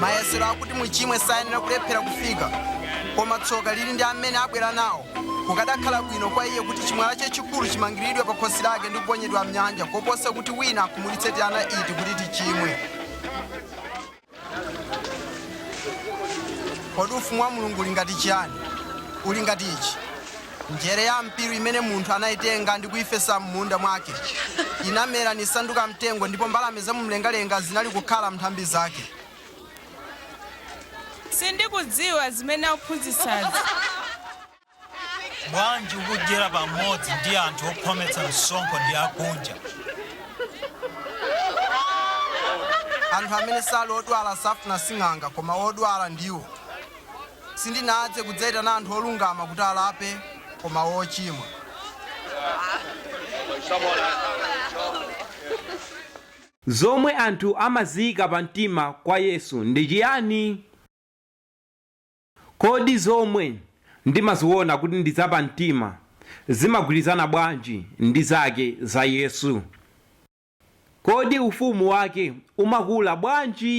mayesero oti muchimwe sayenera kulephera kufika koma tsoka lili ndi amene abwera nawo kukadakhala bwino kwa iye kuti chimwala chachikulu chimangiriridwe pa khosi lake ndi kuponyedwa mnyanja koposa kuti wina akhumudwitse tiana iti kuti tichimwe kodi ufumu wa mulungu uli ngati chiyani uli ngati ichi njere ya mpiru imene munthu anayitenga ndi kuyifesa m'munda mwake inamera nisanduka mtengo ndipo mbalame za mumlengalenga zinali kukhala m'nthambi zake sindikudziwa zimene akuphunzitsazi Bwanji ukudyera pamodzi ndi anthu okhometsa msonkho ndi akunja? Anthu amene sali odwala safuna sing'anga, koma odwala ndiwo. Sindinadze kudzaitana anthu olungama kuti alape, koma ochimwa. Zomwe anthu amaziika pamtima kwa Yesu ndi chiyani? Kodi zomwe ndimaziona kuti ndi zapamtima zimagwirizana bwanji ndi zake za Yesu? Kodi Ufumu wake umakula bwanji?